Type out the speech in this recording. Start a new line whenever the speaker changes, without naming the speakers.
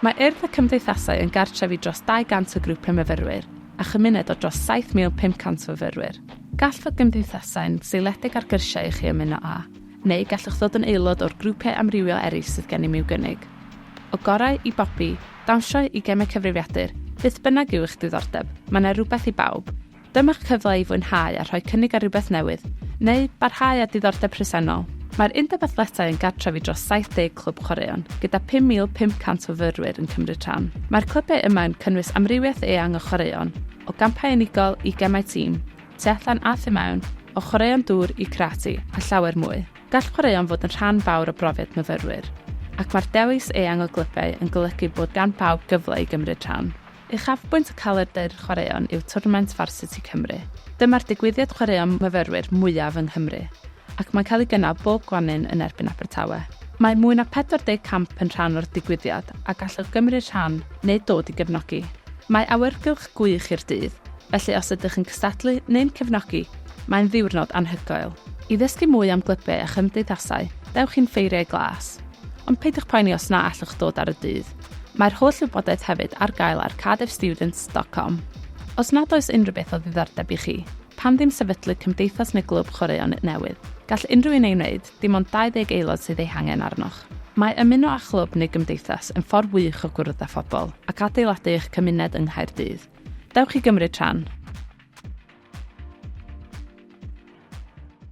Mae Urdd y Cymdeithasau yn gartref i dros 200 o grwpiau myfyrwyr a chymuned o dros 7,500 o fyfyrwyr. Gall fod gymdeithasau'n seiliedig ar gyrsiau i chi ymuno â, neu gallwch ddod yn aelod o'r grwpiau amrywiol eraill sydd gennym i'w gynnig. O gorau i bopi, dawnsio i gemau cyfrifiadur, beth bynnag yw eich diddordeb, mae 'na rywbeth i bawb. Dyma'ch cyfle i fwynhau a rhoi cynnig ar rywbeth newydd, neu barhau â diddordeb presennol. Mae'r Undeb Athletau yn gartref i dros 70 clwb chwaraeon, gyda 5,500 o fyrwyr yn cymryd rhan. Mae'r clybiau yma yn cynnwys amrywiaeth eang o chwaraeon, o gampau unigol i gemau tîm, tu allan a thu mewn, o chwaraeon dŵr i karate, a llawer mwy. Gall chwaraeon fod yn rhan fawr o brofiad myfyrwyr, ac mae'r dewis eang o glybiau yn golygu bod gan bawb gyfle i gymryd rhan. Uchafbwynt y calendr chwaraeon yw twrnament Varsity Cymru. Dyma'r digwyddiad chwaraeon myfyrwyr mwyaf yng Nghymru, ac mae'n cael ei gynnal bob gwanwyn yn erbyn Abertawe. Mae mwy na 40 camp yn rhan o'r digwyddiad a gallwch gymryd rhan neu dod i gefnogi. Mae awyrgylch gwych i'r dydd, felly os ydych yn cystadlu neu'n cefnogi, mae'n ddiwrnod anhygoel. I ddysgu mwy am glybiau a chymdeithasau, dewch i'n Ffeiriau Glas. Ond peidiwch poeni os na allwch ddod ar y dydd. Mae'r holl wybodaeth hefyd ar gael ar cardiffstudents.com. Os nad oes unrhyw beth o ddiddordeb i chi, pam ddim sefydlu cymdeithas neu glwb chwaraeon newydd? Gall unrhyw un ei wneud, dim ond 20 aelod sydd eu hangen arnoch. Mae ymuno â chlwb neu gymdeithas yn ffordd wych o gwrdd â phobl ac adeiladu eich cymuned yng Nghaerdydd. Dewch i gymryd rhan!